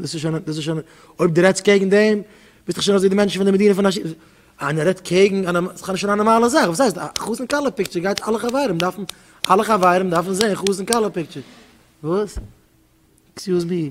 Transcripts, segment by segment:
דאס איז שוין, דאס איז שוין, אויב דו רעדסט קעגן דעם, ביסטעך שוין אזוי די מענטשן פון די מדינה פון השי ת. איינער רעדט קעגן א נאר, ס'איז בכלל נישט א נארמאלע זאך, וואס הייסט, חתן כלה פיקטשער גייט אלע חברים דארפן, אלע חברים דארפן זען חתן כלה פיקטשער. וואס? עקסיוז מי?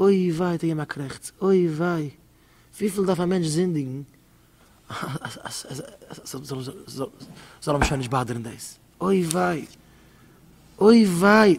אוי וויי האט ער געגעבן א קרעכץ, אוי וויי, וויפיל דארף א מענטש זינדיגן אז ס'זאל אים שוין נישט באדערן דאס, אוי וויי, אוי וויי.